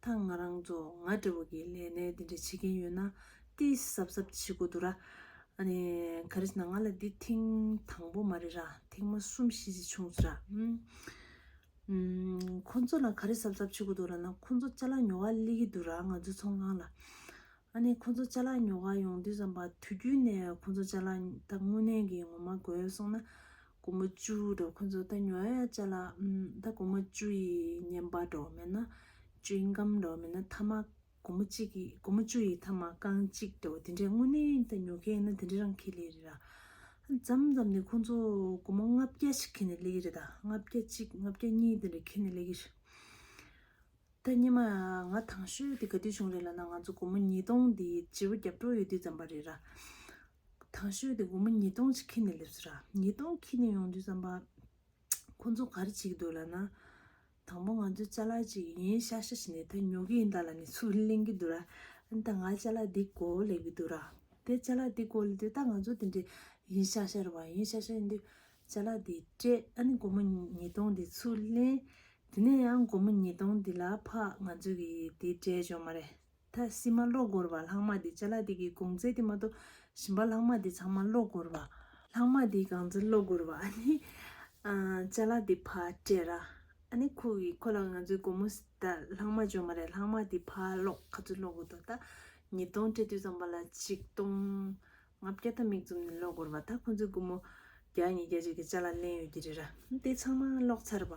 ད་ང་རང་ཚོ་ང་འདྲ་བོ་གི་ལས་གནས་འདི་འདྲ་བྱེད་ཀྱིན་ཡོད་ན་ཏིས་གཟབ་གཟབ་བྱེད་དགོས་འདུག་ར། ཨ་ནི་ག་རེ་བྱས་ན་ང་ལ་འདི་ཐེངས་དང་པོ་མ་རེད་ར་ཐེངས་མ་གསུམ་བཞི་བྱས་བྱུང་ཟེར་ར། ཁོ་ཚོ་ལ་ག་རེ་གཟབ་གཟབ་བྱེད་དགོས་འདུག་ར་ན་ཁོ་ཚོ་ལྕ་ལག་ཉོ་ག་སླེ་གི་འདུག་ར་ང་ཚོའི་ཚོང་ཁང་ལ། ཨ་ནི་ཁོ་ཚོ་ལྕ་ལག་ཉོ་ག་ཡོང་དུས་ཙམ་པ་དུས་རྒྱུན་ནས་ཁོ་ཚོ་ལྕ་ལག་ད་དངུལ་གནས་ཀྱི་ངོ་མ་དགོས་སོང་ན་གོ་མ་ཅུ་འགྲོ་ཁོ་ཚོ་ད་ཉོ་ཡ་ཅ་ལ་ད་གོ་མ་ཅུ་ཡི་ཉན་པ་འགྲོ་མེད་ན་ཅུ་ཡི་འགམ་འགྲོ་མེད་ན་ཐ་མ་གོ་མ་ཅིག་གི་གོ་མ་ཅུ་ཡི་ཐ་མ་རྐང་གཅིག་འགྲོ་དེ་འདྲའི་དངོས་གནས་ད་ཉོ་མཁན་ཡིན་ན་དེ་འདྲའི་རང་ཁེ་ལས་རེད་ར། ཙམ་ཙམ་ནས་ཁོ་ཚོ་གོ་མ་ལྔ་བརྒྱ་ཞིག་ཁེ་ནས་ལས་ཀྱི་རེད་ད་ལྔ་བརྒྱ་གཅིག་ལྔ་བརྒྱ་གཉིས་དེ་འདྲ་ཁེ་ནས་ལས་ཀྱི་རེད། ད་སྙེ་མ་ང་ཐང་ཤོད་དེ་ག་དུས་བྱུང་རེད་ལ་ན་ང་ཚོ་གོ་མ་ཉིས་སྟོང་དེ་སྤྱི་བོ་རྒྱབ་གྲོགས་ཡོད་དུས་ཙམ་པ་རེད་ར། དང་ཤོས་དེ་སྒོར་མོ་ཉིས་སྟོང་ཅིག་ཁྱི་ནས་སླེབས་ཚོད་ར། ཉིས་སྟོང་ཁྱི་ནས་ཡོང་དུས་བསམ་པ། ཁོ་ཚོ་ག་རེ་བྱེད་ཀྱི་འདུག་ལབ་ན། དང་པོ་ང་ཚོའི་ལྕ་ལག་ཅིག་ཡིན་ཤག་ཤག་བྱས་ནས་ད་ཉོ་གི་ཡིན་ད་ལ་ནས་ཚུར་གླེང་གི་འདུག་ར། འོན་ཏང་ང་ལྕ་ལག་འདི་གོ་ལེགས་པའི་འདུག་ར། དེ་ལྕ་ལག་འདི་གོ་ལེགས་དུས་ད་ང་ཚོ་དེ་འདྲའི་ཡིན་ཤག་ཤག་རེད་བ་ཡིན་ཤག་ཤག་ཡིན་དུས་ལྕ་ལག་འདི་སྤྲད་ཨ་ནི་སྒོར་མོ་ཉིས་སྟོང་འདི་ཚུར་གླེང། དེ་ནས་ཡང་སྒོར་མོ་ཉིས་སྟོང་འདི་ལ་ཕག་ང་ཚོ་གི་དེ་སྤྲད་བྱུང་མ་རེད། ད་ཤི་མ་ལོག་སྒོར་བ་ལྷག་མ་དེ་བྱ་ལ་དེ་གི་དགོང་ཚད་དེ་མ་གཏོགས་ཤི་མ་ལྷག་མ་དེ་ཚང་མ་ལོག་སྒོར་བ། ལྷག་མ་དེའི་གང་ཚད་ལོག་སྒོར་བ་ཨ་ནི། བྱ་ལ་དེ་ཕར་སྤྲད་ར། ཨ་ནི་ཁོ་གི་ཁོ་ལ་ང་ཚོའི་དགོང་མོ་ད་ལྷག་མ་བྱོན་མ་རེད་ལྷག་མ་དེ་ཕར་ལོག་ག་ཚོད་ལོག་སྒོར་དོ་ད་ཉིས་སྟོང་སྤྲད་དུས་ཙམ་པ་ལ་ཆིག་སྟོང་ང་བརྒྱ་ད་མིག་བཙུམ་ནས་ལོག་སྒོར་བ་ད་ཁོ་ཚོའི་དགོང་མོ་བརྒྱ་གཉིས་བརྒྱ་གཅིག་གི་བྱ་ལ་ལེན་ཡོད་ཀྱི་རེད་ར་དེ་ཚང་མ་ལོག་ཚར་བ།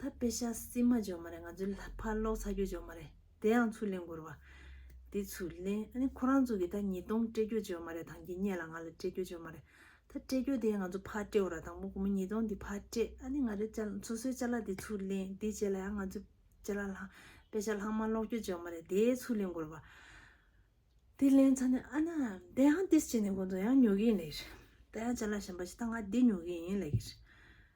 ད་དཔེ་ཆ་བསྲིས་མ་འཇོག་མ་རེད་ང་ཚོའི་ལྷ་ཕར་ལོག་ཚ་རྒྱུ་འཇོག་མ་རེད་དེ་ཡང་ཚུར་ལེན་དགོས་རེད་བ་དེ་ཚུར་ལེན་ཨ་ནི་ཁོ་རང་ཚོ་གི་ད་ཉིས་སྟོང་སྤྲད་རྒྱུ་འཇོག་མ་རེད་དང་གི་སྙད་ལ་ང་ལ་སྤྲད་རྒྱུ་འཇོག་མ་རེད་ད་སྤྲད་རྒྱུ་དེ་ཡང་ང་ཚོ་ཕར་སྤྲད་རོགས་དང་པོ་སྒོར་མོ་ཉིས་སྟོང་འདི་ཕར་སྤྲད་ཨ་ནི་ང་རེ་ལྕ་ལ་སོ་སོའི་ལྕ་ལ་དེ་ཚུར་ལེན་དེ་རྗེས་ལ་ཡང་ང་ཚོའི་ལྕ་ལ་ལྷག་དཔེ་ཆ་ལྷག་མ་ལོག་རྒྱུ་འཇོག་མ་རེད་དེ་ཚུར་ལེན་དགོས་རེད་བ་དེ་ལེན་ཚར་ནས་ཨ་ན་དེ་ཡང་ཏིས་བྱས་ནས་ཁོང་ཚོ་ཡང་ཉོ་གི་ཡིན་ལེགས་རེད་ད་ཡང་ལྕ་ལ་གཞན་པ་ཞིག་ད་ང་འདི་ཉོ་གི་ཡིན་ལེགས་རེད།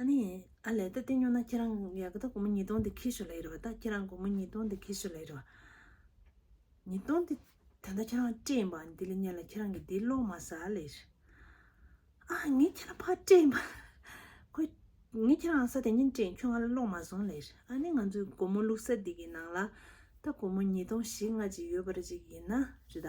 ཨ་ནི། ཨ་ལས་ད་ལྟེ་ཉོ་ན་ཁྱེད་རང་ཡ་གི་ད་གོ་མོ་ཉིས་སྟོང་དེ་ཁྱེར་ཤོ་ལེ་རེ་བ་ད་ཁྱེད་རང་གོ་མོ་ཉིས་སྟོང་དེ་ཁྱེར་ཤོ་ལེ་རེ་བ། ཉིས་སྟོང་དེ་ད་ད་ཁྱེད་རང་བཀྲེས་ཡིན་པ་འདི་ལ་ཉན་ལ་ཁྱེད་རང་གི་འདི་ལོག་མ་ཟ་ལེ་རེ། ཨ་ངས་ཁྱེད་རང་ཕར་བཀྲེས་ཡིན་པ། ཁོས། ངས་ཁྱེད་རང་ས་དེ་ཉིན་བཀྲེས་ཡིན་ཁྱོད་ང་ལ་ལོག་མ་སོང་ལེ་རེ། ཨ་ནི་ང་ཚོའི་གོ་མོ་བླུག་ས་འདི་གི་ནང་ལ་ད་གོ་མོ་ཉིས་སྟོང་བཞི་ལྔ་ཅིག་ཡོད་པ་རེ་ཅིག་ཡིན་ན་རེ་ད།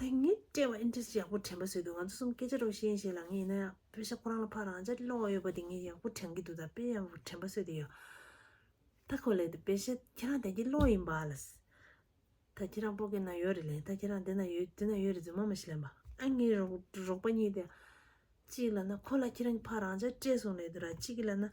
དེང་ངས་དཔྲལ་བར interest ཡག་པོ་དྲན་པ་བཟོས་འདུག་ང་ཚོ་གསུམ་སྐད་ཆ་རོགས་ཤེས་ཡིན་ཞེས་ལངས་ངེས་ཡིན་ན་ཡང། བོད་ཤ་ཁོ་རང་ལ་ཕ་རང་ཅག་གི་བློ་བ་ཡོད་པ་དེ་ངས་ཡག་པོ་དྲན་གྱི་འདུག་ད་དཔེ་ཡག་པོ་དྲན་པ་བཟོས་ཏེ་ཡོད། ད་ཁོ་ལས་དེ་བོད་ཤ་ཁྱེད་རང་དལ་གྱི་བློ་ཡིན་པ་ལ། ད་ཁྱེད་རང་སྤོ་དགེ་ན་ཡོད་རེད་ལན་ད་ཁྱེད་རང་དེ་ན་ཡོད་དེ་ན་ཡོད་རེད་རྫུན་མ་མ་ཤི་ལན་པ། ད་ངའི་རོགས་པ་གཉིས་དེ། གཅིག་ལ་ན་ཁོ་ལ་ཁྱེད་རང་གི་ཕ་རང་ཅག་བཀྲེས་སོང་ལས་དུ་ར་གཅིག་གི་ལ་ན།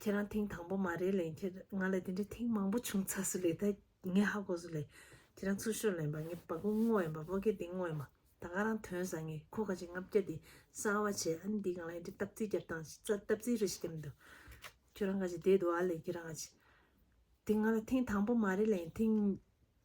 ཁྱེད་རང་ཐེངས་དང་པོ་མ་རེད་ལན་ཁྱེད་ང་ལ་དེ་འདྲའི་ཐེངས་མང་པོ་བྱུང་ཚར་སུ་ལས་ད་ངས་ཧ་གོ་སུ་ལས་ཁྱེད་རང་ཚུར་ཤོར་ལན་པ་ངས་བ་གུ་སྔོ་ཡན་པ་བོ་གེ་དེ་སྔོ་ཡན་པ་ད་ག་རང་དོན་ཟ་ངས་ཁོ་ག་ཅིག་ལྔ་བརྒྱ་དེ་གསང་བ་བྱས་ཨ་ནི་འདི་གང་ལ་ཡིན་འདྲི་སྟབས་རྩིས་རྒྱབ་དང་སྟབས་རྩིས་རེ་ཞིག་རྒྱབ་འདུག་ཁྱོད་རང་ག་ཅིག་བསྡད་འདུག་ཨ་ལས་ཁྱེད་རང་ག་ཅིག་དེ་ང་ལ་ཐེངས་དང་པོ་མ་རེད་ལན་ཐེངས།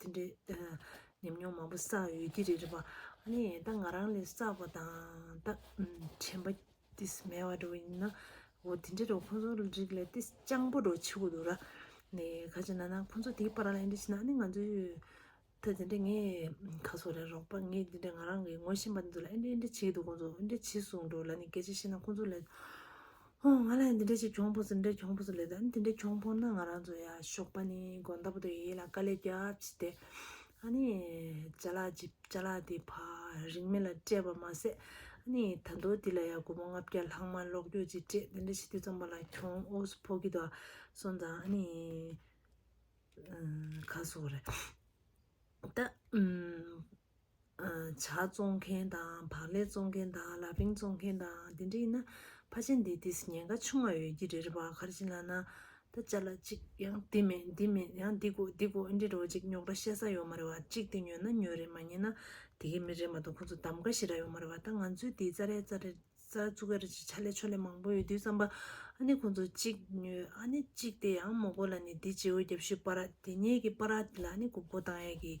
དེ་འདྲའི་ཉམས་མྱོང་མང་པོ་བསགས་ཡོད་ཀྱི་རེད་རེད་པ། ད་ང་རང་ལས་བསགས་པ་དང་ད་དྲན་པ་དེ་མེད་བ་འགྲོ་ཡིན་ན། འོ་དེ་འདྲའི་རོ་ཁོང་ཚོ་རིགས་ལས་དེ་སྤྱང་པོ་འགྲོ་ཆེ་བོ་འདུག་ར། ནས་ག་ཅེ་ན་ན་ཁོང་ཚོ་དེའི་པར་ལ་ཡིན་དྲི་ཤེས་ན་ཨ་ནི་ང་ཚོའི་ད་དེ་འདྲའི་ངའི་ཁ་སོ་ར་རོགས་པ་ངའི་དེ་འདྲའི་ང་རང་གི་ངོ་ཤེས་པ་འདི་ཚོ་ལ་ཨེ་འདྲའི་ཨེ་འདྲའི་བྱེད་ཀྱི་འདུག་ཁོང་ཚོ་འདྲའི་བྱེད་གསུངས་འགྲོ་ལ་ནི་ག་ཅེ་ཤེས་ན་ཁོང་ཚོ་ལས། ཧོ་ང་ལ་འདི་འདྲ་ཞིག་གྱོང་ཕོག་སོང་འདི་འདྲ་གྱོང་ཕོག་སོང་ལེ་དང་འདི་འདྲ་གྱོང་ཕོག་ན་ང་རང་ཚོ་ཡ་ཞོགས་པ་ནི་དགོན་ཟླ་པོ་དེ་ཡིད་ལ་དཀའ་ལས་རྒྱབ་ཅི་དེ་ཨ་ནི་བྱ་ལག་ཅི་བྱ་ལག་དེ་ཕ་རིང་མི་ལ་སྤྲད་པ་མ་ཟད་ཨ་ནི་ད་མདོ་འདི་ལ་ཡ་དགོན་པོ་ལྔ་བརྒྱ་ལྷག་མ་ལོག་རྒྱུག་ཅི་སྤྲད་འདི་འདྲ་ཞིག་དུས་ཙམ་པ་ལ་གྱོང་ཨོ་སུ་ཕོག་གི་འདུག་ཨ་སོང་ཙང་ཨ་ནི་ག་སོག་རེད་ད་བྱ་བཙོང་མཁན་དང་བག་ལེབ་བཙོང་མཁན་དང་ལ་བིང་བཙོང་མཁན་དང་དེ་འདྲ་ཡིན་ན་ཕ་ཆེན་འདི་དེས་ཉེན་ཁ་ཆུང་བ་ཡོད་ཀྱི་རེད་པ་གར་ཅི་ལ་ན་ད་བཅའ་ལ་ཅིག་ཡང་འདི་མེད་འདི་མེད་ཡང་འདི་དགོ་འདི་དགོ་ཨེ་འདྲི་རོགས་ཅིག་ཉོག་དྲ་བཤད་ས་ཡོག་མ་རེད་བ་ཅིག་དེ་ཉོས་ན་ཉོས་རེད་མ་ཉེས་ན་དེ་གའི་མི་རེད་མ་ཏོག་ཁོང་ཚོ་འདམ་ག་ཞིག་ར་ཡོག་མ་རེད་བ་ད་ང་ཚོའི་འདི་རྩ་རེ་རྩ་རེ་རྩ་བཙུག་ག་རེ་ཅིག་ཆ་ལེ་ཆོ་ལེ་མང་པོ་ཡོད་དུས་བསམ་པ་ཨ་ནི་ཁོང་ཚོ་ཅིག་ཉོས་ཨ་ནི་ཅིག་དེ་ཡང་མོ་གོ་ལ་ནི་འདི་ཇེའུ་རྒྱབ་ཤུལ་པ་ར་དེ་ཉེས་ཀྱི་པ་ར་དེ་ལ་ཨ་ནི་གུག་པོ་བཏང་ཡས་ཀྱི།